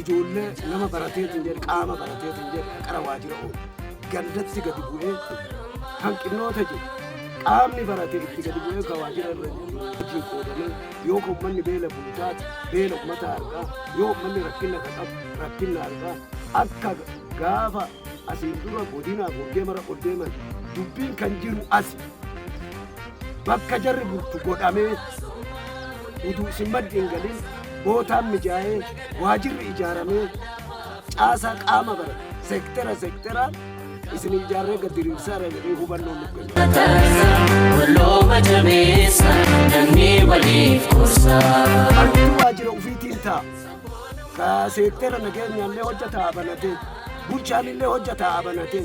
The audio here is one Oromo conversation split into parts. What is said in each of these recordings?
ijoollee nama barateetiin jedhe qaama barateetiin jedhe qara waajjira oolu gandatti gadi bu'ee hanqinoota jiru qaamni barate itti gadi bu'ee ka waajjira irra wajjin qoodamee yoo ka ummanni beela bultaati beela ummata argaa yoo ummanni rakkina ka qabu rakkina argaa akka gaafa asiin dura godinaa gurgee mara ol deeman dubbiin kan jiru asi bakka jarri bultu godhamee utuu isin maddi hin galin bootaan mijaa'ee waajirri ijaaramee caasaa qaama bara seektera seekteraan isin ijaarree gad diriirsaa irra jedhee hubannoo nuuf kenna. Tatarsa walooma jabeessa namni waliif gorsa. Harki waajjira ofiitiin ta'a. Ka seektera nageenyaallee hojjetaa banatee bulchaanillee hojjetaa banatee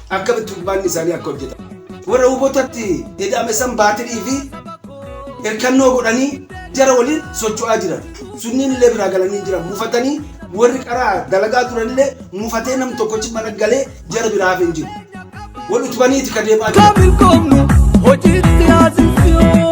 Akkamitti hubbaanni isaanii akka hojjetamu. Warra Huubotatti ida'ame san baatirii fi hirkannoo godhanii jara waliin socho'aa jiran. Sunniin illee biraa galanii jiran. Mufatanii warri qaraa dalagaa turan illee mufatee nam tokkochi mana galee jara biraa hafe hin jiru. Wal utubaniiti ka deemaa jiran. Kabil komnu hojiitti haa sisiyoomu.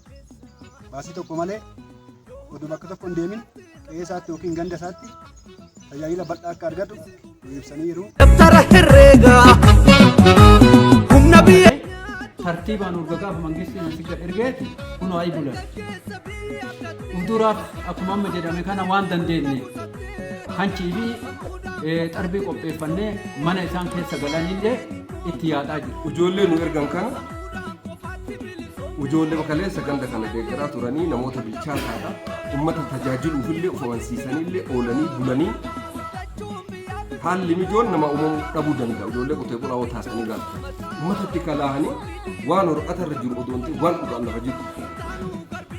baasii tokko malee oduu bakka tokko hin deemin qe'ee isaatti yookiin ganda isaatti tajaajila bal'aa akka argatu nu ibsanii jiru. Dabtara herreegaa humna biyya. tartiibaan urgagaaf mangistiin namicha ergeeti kunoo ayi bulan. Fuulduraaf akkuma amma jedhame kana waan dandeenye hanchii fi xarbii qopheeffannee mana isaan keessa galanillee itti yaadaa jiru. Ijoollee nu ergan kana Ijoolleen kaleessa ganda kana deeggaraa turanii namoota bilchaataadha. Uummata tajaajiluuf illee of amansiisanii illee oolanii bulanii haalli mijoon nama uumamuu dhabuu danda'a. Ijoollee qotee bulaa yoo taasanii gaafatan. Uummatatti kalaahanii waan hor'atarra jiru odoo hin ta'in waan dhugaan lafa jiru.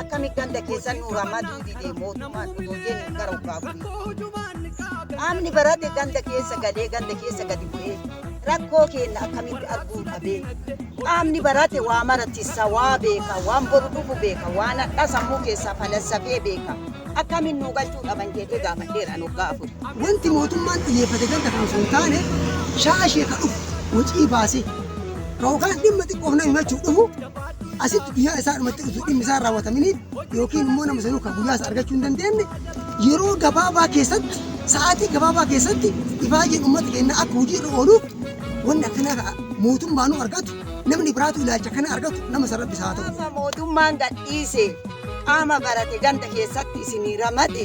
Akkamitti ganda keessan nuuraa madduu didee mootummaan otoo jennu gara obbaa bulee. Qaamni barate ganda keessa galee ganda keessa gadi bu'ee rakkoo keenya akkamitti arguu dhabee. Qaamni barate waa maratissa waa beeka waan boru dhufu beeka waan hadhaa sammuu keessaa falassafee beeka. Akkamiin nuu galchuu dhaban jedhee gaafadheera nu gaafatu. Wanti mootummaan xiyyeeffate ganda kana osoo hin taane shaashee ka dhufu wacii baasee yookaan dhimma xiqqoof nama himachuuf dhufu Asitti guyyaa isaa dhumatti utuu dhimmi isaa raawwataminiif yookiin immoo nama sanuu kan guyyaa isaa argachuu hin dandeenye yeroo gabaabaa keessatti sa'aatii gabaabaa keessatti ifaajeen uummata keenya akka hojii irra ooluuf wanni akkanaa mootummaanuu argatu namni biraatu ilaalcha kana argatu nama san rabbi isaa ta'u. Mootummaan gadhiise qaama barate ganda keessatti isinii ramade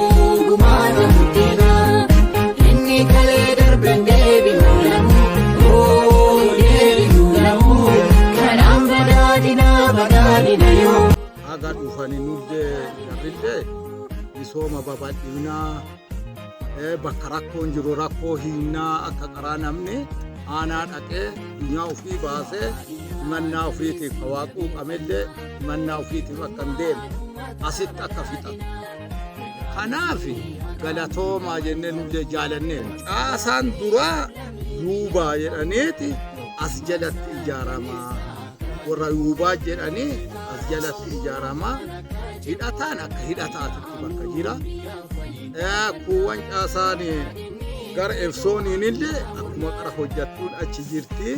Gumaata murteedha inni kalee darbe deebi'u lamu oo deebi'u lamu kanaan badhaadhina badhaadhina yoo. Haga dhufani nullee garrillee misooma babal'inaa eh, bakka rakkoon jiru rakkoo hinnaa akka qaraa namni aanaa dhaqee dunyaa ofii baasee himannaa ofiitiif hawaaquu qamellee himannaa ofiitiif akka hin deemne asitti akka fixatu. Kanaaf galatoomaa jennee nullee jaalannee caasaan duraa yuubaa jedhaneeti as jalatti ijaaramaa warra yuubaa jedhanii as jalatti ijaaramaa hidhataan akka hidhataatitti bakka jira. Eh, Kuuwwan caasaan gara efsooniin illee akkuma qara hojjattuun achi jirti.